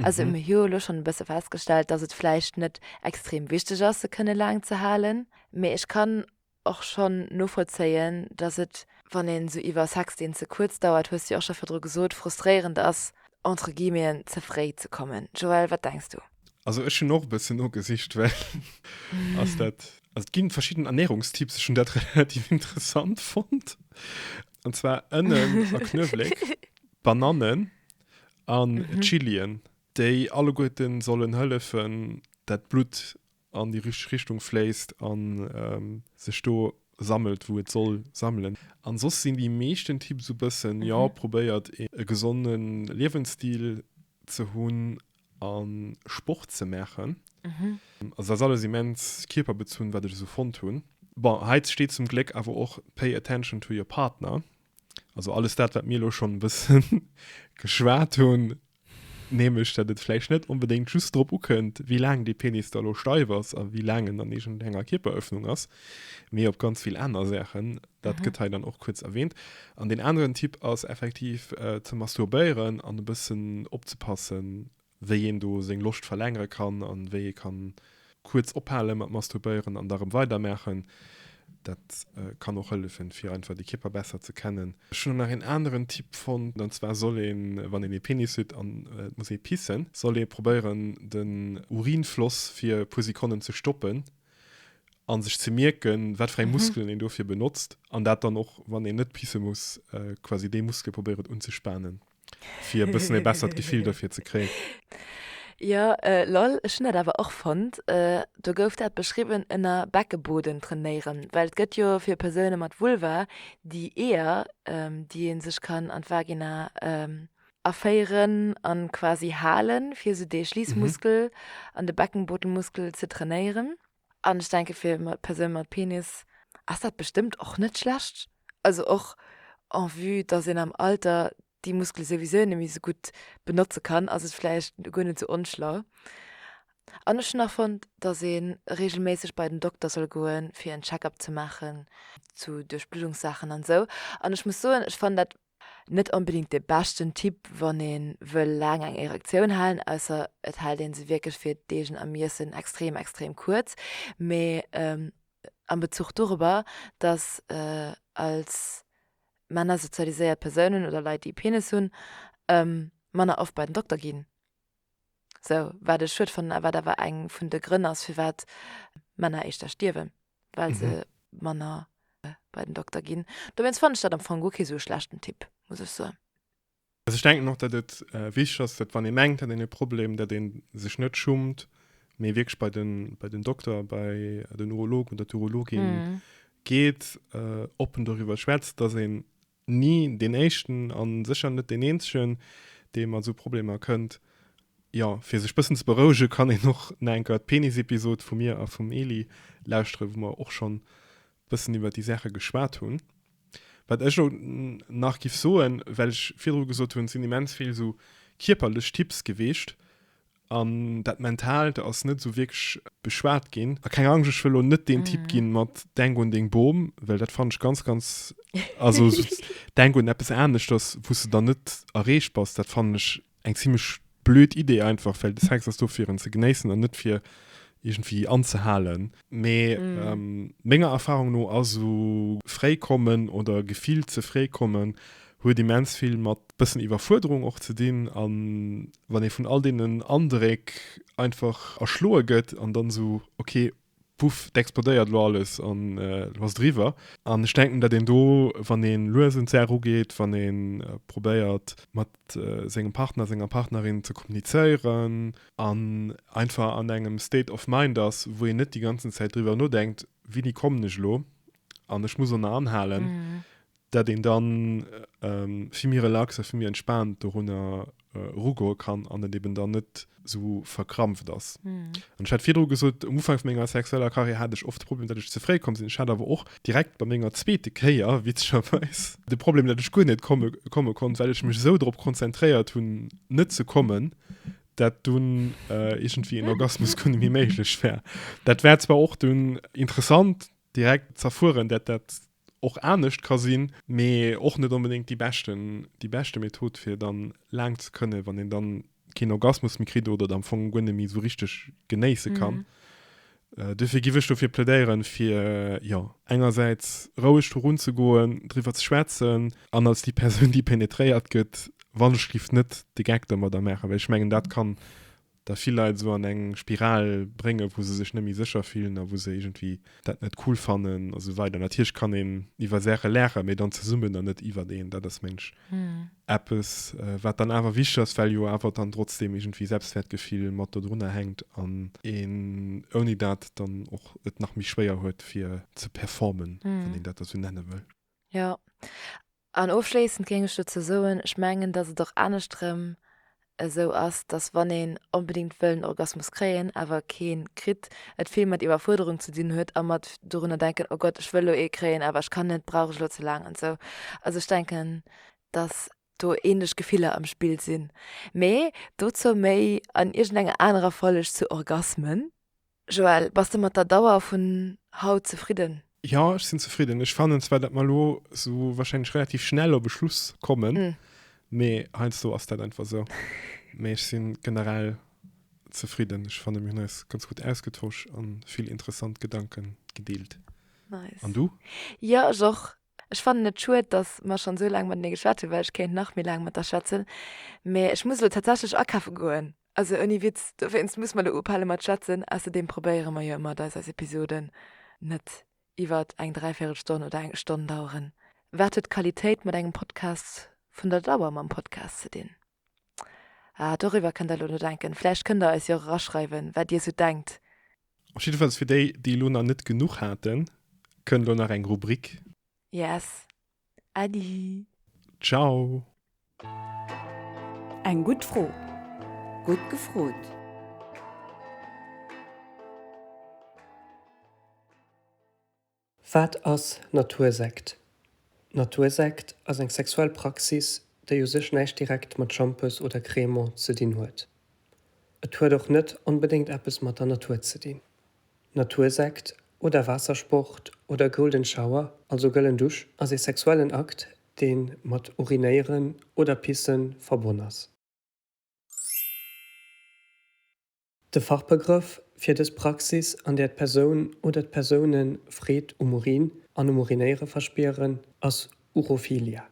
Also mir hu jo elo schonn e bësse festgestellt, dass et vläicht net extrem wichteg ass, se kënne laang ze halen. Mee ech kann och schonn novollzéien, dass et, wann een esou iwwer Sex, deen ze kuerz dauert, hues de jo och scho virdru gesot, frustréierend ass, entre guillemeten, ze fréi ze kommen. Joël, wat denks du? Also ech hunn och e bëssen nogesicht, well ass dat, also et gi verschidden Ernährungstipps, ech hunn dat relativ interessant fonnt, an zwar Ënnen a Knuewléck, Banannen. an Chilien, déi alleguerten sollen hëllefen, dat d'Blutt an déi richteg Richtung fléisst an sech do sammelt, wou et soll sammelen. An soss sinn déi meeschten Tipps esou bëssen, jo, probéiert e gesonde Liewensstil ze hunn a Sport ze maachen. Also dat ass alles immens kierperbezunn, wat ech esou fonnt hunn. Bon, hei steet zum Gléck awer och pay attention to your partner. Also alles dat wat mir lo schon e bësse geschwat hunn, nämlech dat et vläicht net onbedéngt just drop ukënnt, wéi laang dee Penis da lo steif ass a wéi laang en an iergend enger Kierperëffnung ass, mee op ganz vill aner Saachen. Dat gëtt hei dann och kuerz erwähnt. An deen aneren Tipp ass effektiv ze masturbéieren an e bëssen opzepassen, wéi een do seng Loscht verlängere kann a wéi ee kann kuerz ophale mat masturbéieren an da rëm weidermaachen. Dat kann och hëllefen, fir einfach de Kierper besser ze kennen. Ech hunn och nach een aneren Tipp fonnt, an zwar soll een, wann een ee Penis huet an et muss ee pissen, soll ee probéieren, den Urinfloss fir e puer Sekonnen ze stoppen a sech ze mierken, wat fir eng Muskelen een dofir benotzt an dat dann och, wann een net pisse muss, quasi déi Muskel probéiert unzespanen. Fir e bëssen ee bessert Gefill dofir ze kréien. Jo, lol, ech hunn dat awer och fonnt. Do gouf dat beschriwwen ënner Beckeboden trainéieren, well et gëtt jo fir Persoune mat Vulva déi Eeër, déi ee sech kann an d'Vagina aféieren a quasi halen, fir esou dee Schliissmuskel an de Beckenbodenmuskel ze trainéieren. An ech denke fir Persoune mat Penis ass dat bestëmmt och net schlecht. Also och en vue datt een am Alter déi Muskele souwisou net méi sou gutt benotze kann, ass et vläicht guer net sou onschlau. An ech hunn nach fonnt, datt ee reegelméisseg bei den Dokter soll goen, fir en Check-up ze maachen zu Duerchbluddungssaachen an esou. An ech muss soen, ech fannen dat Net onbedingt de beschten Tipp wann ee wëll laang eng Erektioun halen, ausser et hält ee se wierklech fir d'eegen Ermiessen extrem extrem kuerz. Mee am Bezuch dorobber, datt als Männer sozialiséiert Persounen oder Leit déi e Penis hunn, manner oft bei den Dokter ginn, sou wat ech schued fannen a wat awer eng vun de Grënn ass firwat Männer éischter stierwen. well se manner bei den Dokter ginn. Dowéinst fannen ech dat am Fong guer kee sou e schlechten Tipp, muss ech soen. Also ech denken och, datt et wichteg ass, datt wann ee mengt, hat een e Problem, datt ee sech net schummt, mee wierklech bei den, bei den Dokter, bei den Urolog oder d'Urologin geet, oppen doriwwer schwätzt, datt een ni deen éischten a sécher net deen eenzegen, dee mat esou Problemer kënnt. Jo, fir sech e bëssen ze berouege kann een och nach eng Kéier d'Penis-Episod vu mir a vum Eli lauschteren, wou mer och schonn e bëssen iwwer déi Saache geschwat hunn. Wat ech och nach giff soen, well ech virdru gesot hunn, et sinn immens vill esou kierperlech Tipps gewiescht, An dat Mentaalt ass net esou wierklech beschwat ginn. A keng Angscht, ech wëll elo net deen Typ mm. ginn mat Denk un deng Bom, well dat fand ech ganz ganz also denk un eppes anescht, dass wus du dann net erreecht bass, dat fand ech eng ziemlich blöd Idee einfach, well de Sex ass do fir en ze genéissen an net fir irgendwie anzehalen. Mee menger Erfahrung no ass esou fréi kommen oder gefillt ze fréi kommen huet immens vill mat bëssen Iwwerfuerderung och ze dinn. An wann ee vun all deenen Andréck einfach erschloe gëtt an dann esou ok puff et explodéiert elo alles an elo ass et eriwwer. An ech denken datt een do wann ee lues un d'Saach ugeet, wann ee probéiert mat sengem Partner, senger Partnerin ze kommunizéieren, an einfach an engem State of Mind ass, wou een net déi ganzen Zäit driwwer nodenkt, Wini kommen ech elo an ech muss ënner anhalen, dat een dann vill méi relax a vill méi entspaant dorunner erugoe kann an et eben dann net esou verkrampft ass. An ech hat virdru gesot, um Ufank vu menger sexueller Karriär hat ech oft de Problem, datt ech ze fréi komm sinn. Ech hat awer och direkt bei menger zweete Kéier, witzegerweis, de Problem, datt ech guer net komme konnt, well ech mech esou drop konzentréiert hunn, net ze kommen, dat dunn äh, irgendwie en Orgasmus kun mi méiglech wär. Dat wär zwar och dunn interessant direkt zerfuhren, dat dat och anescht ka sinn, mee och net unbedingt die beschten die beschte Method fir dann lang ze kënne, wann en dann keen Orgasmus mi kritt oder am Fong guer net mi so richtig genéisse kann. Mhm. Duerfir giff ech dofir plädéieren, fir, jo, engersäits roueg dorun ze goen, driwwer ze schwätzen an als déi Persoun, déi pénétréiert gëtt, wann ech giff net de Geck domadder maachen, well ech mengen, dat kann da vill Leit esou an eng Spiral bréngen, wou se sech net méi sécher fillen a wou se iergendwéi dat net cool fannen a sou weider. Natierlech kann een iwwer Saache laachen, mee dann zesummen an net iwwert een. Dat ass, mengen ech, eppes wat dann awer wichteg ass, well jo awer dann trotzdeem iergendwéi Selbstwäertgefill mat dodrunner hänkt an een ouni dat dann och et nach méi schwéier huet fir ze performen, wann een dat da sou nenne wëll. Jo, an ofschléissend géing ech dozou soen, ech mengen, datt et och anescht erëm esou ass, dass wann een onbedéngt wëll en Orgasmus kréien, awer keen kritt, et vill mat Iwwerfuerderung ze dinn huet a mat dorunner denken, oh Gott, ech wëll elo ee kréien, awer ech kann net, brauch ech elo ze laang an esou. Also ech denken, dass do ähnlech Gefiller am Spill sinn. Mee dozou méi an iergendenger anerer Folleg zu Orgasmen. Joël, bass de mat der Dauer vun haut zefridden? Jo, ech sinn zefridden. Ech fannen zwar, datt mer elo sou warscheinlech relativ schnell op e Schluss kommen, mee heiansdo ass dat einfach sou. Mee ech sinn generell zefridden. Ech fannen, mir hunn eis ganz gutt ausgetosch an vill interessant Gedanken gedeelt. Nice. An du? Jo, ech och. Ech fannen et schued, datt mer schonn sou laang matenee geschwat hunn, well ech kéint nach méi laang mat der schwätzen. Mee ech muss elo tatsächlech akafe goen. Also ouni Witz, dowéinst muss mer elo ophale mat schwätzen. Ausserdeem probéiere mer jo ëmmer, dass eis Episoden net iwwer eng dräivierel Stonn oder eng Stonn daueren. Wat huet Qualitéit mat engem Podcast vun der Dauer mam Podcast ze dinn? Ah, doriwwer kënnt der elo nodenken. Vläicht kënnt der eis jo och eraschreiwen, wat dir esou denkt. Och jiddefalls fir déi, déi elo nach net genuch haten, kënnt elo nach eng Rubrik. Yes, Adi. Ciao. Eng gutt Fro. Gutt gefrot. Wat ass Natursekt? Natursekt ass eng sexuell Praxis, déi u sech näischt direkt mat Schampes oder Cremant ze dinn huet. Et huet och net onbedéngt eppes mat der Natur ze dinn. Natursekt oder Waassersport oder Golden Shower, also Gëllen Dusch, ass ee sexuellen Akt, dee mat Urinéieren oder Pissen verbonn ass. De Fachbegrëff fir dës Praxis, an där d'Persoun oder d'Persoune Freed um Urin an um Urinéiere verspieren, ass Urophilia.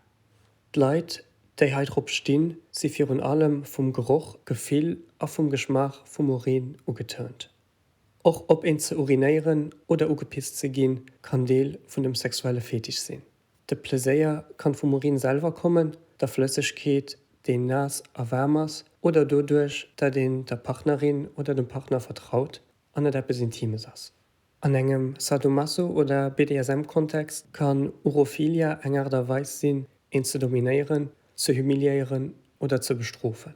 D'Leit, déi hei drop stinn, si virun allem vum Geroch, Gefill a vum Geschmaach vum Urin ugetörnt. Och op een ze urinéieren oder ugepisst ze ginn, kann Deel vun dem sexuelle Fetisch sinn. De Pleséier kann vum Urin selwer kommen, der Flëssegkeet, déi naass a waarm ass, oder doduerch, datt een der Partnerin oder dem Partner vertraut an et eppes Intimes ass. An engem Sadomaso oder BDSM-Kontext kann Urophilia eng Aart a Weis sinn, een ze dominéieren, ze humiliéieren oder ze bestrofen.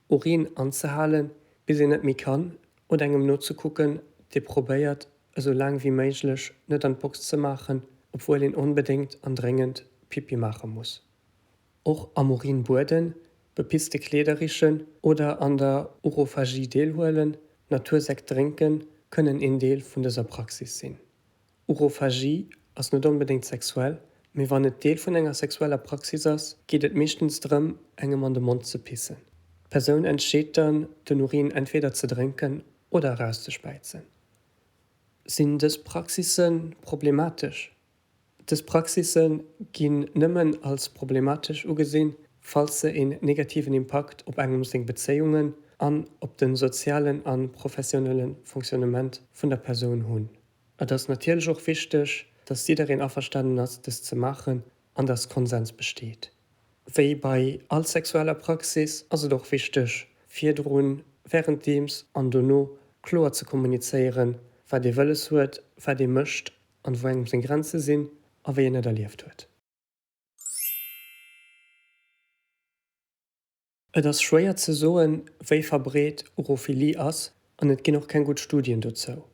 Urin anzehalen, bis een net méi kann, oder engem nozekucken, dee probéiert, esou laang wéi méiglech net an d'Box ze maachen, obwuel een onbedéngt an dréngend Pipi maache muss. Och am Urin bueden, bepitzte Kleeder richen oder an der Urophagie deelhuelen, Natursékt drénken, kënnen een Deel vun dëser Praxis sinn. Urophagie ass net onbedéngt sexuell, mee wann et Deel vun enger sexueller Praxis ass, geet et meeschtens drëm, engem an de Mond ze pissen. D'Persoun entscheet dann, den Urin entweder ze drénken oder erauszespäizen. Sinn dës Praxisse problematesch? Dës Praxisse ginn nëmmen als problematesch ugesinn, falls se een negativen Impakt op engem seng Bezéiungen an op de sozialen a professionelle Fonctionnement vun der Persoun hunn. Et ass natierlech och wichteg, dass jiddereen averstanen ass, dëst ze maachen an dass Konsens besteet. Wéi bei all sexueller Praxis ass et och wichteg, virdrun, wärenddeems an dono kloer ze kommunizéieren, wat ee wëlles huet, wat ee mécht an wou engem seng Grenze sinn a wéi een et erlieft huet. Et ass schwéier ze soen, wéi verbreet Urophilie ass an et ginn och keng gutt Studien dozou.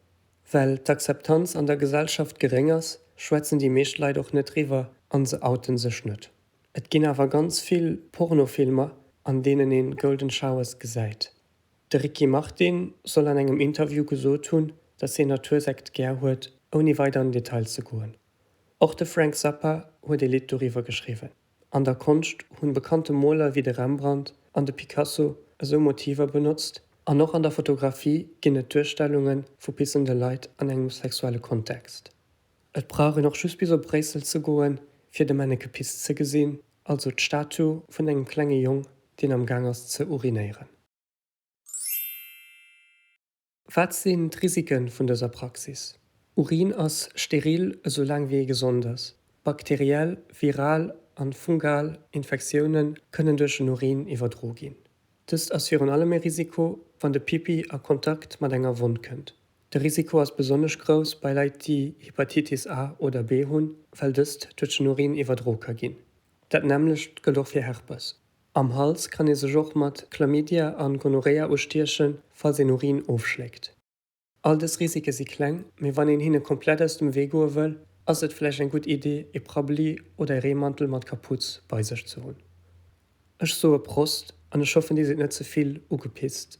Well d'Akzeptanz an der Gesellschaft geréng ass, schwätzen déi meescht Leit och net driwwer an se outen sech net. Et ginn awer ganz vill Pornofilmer, an deenen een Golden Showers gesäit. De Ricky Martin soll an engem Interview gesot hunn, dass hien Natursekt gär huet, ouni weider an den Detail ze goen. Och de Frank Zappa huet ee Lidd doriwwer geschriwwen. An der Konscht hunn bekannte Moler wéi de Rembrandt an de Picasso esou Motiver benotzt, an och an der Fotografie ginn et Duerstellunge vu pissende Leit an engem sexuelle Kontext. Et brauch een och just bis op Bréissel ze goen, fir de Männeke gepisst ze gesinn, also d'Statue vun engem klenge Jong, deen am Gaang ass ze urinéieren. Wat sinn d'Risike vun dëser Praxis? Urin ass steril esou laang wéi ee gesond ass. Bakteriell, viral a fungal Infektioune kënnen duerch den Urin iwwerdro ginn. Dëst ass virun allem e Risiko, wann de Pipi a Kontakt mat enger Wonn kënnt. De Risiko ass besonnesch grouss bei Leit déi Hepatitis A oder B hunn, well dëst duerch den Urin iwwerdro ka ginn. Dat nämmlecht gëllt och fir Herpes. Am Hals kann ee sech och mat Chlamydia a Gonorrhea ustiechen, falls een Urin ofschléckt. All dës Risike si kleng, mee wann een hinne komplett aus dem Wee goe wëll, ass et vläicht eng gutt Iddi, ee Prabbeli oder ee Reemantel mat Kapuz bei sech ze hunn. Ech soe Prost an ech hoffen dir sidd net ze vill ugepitzt.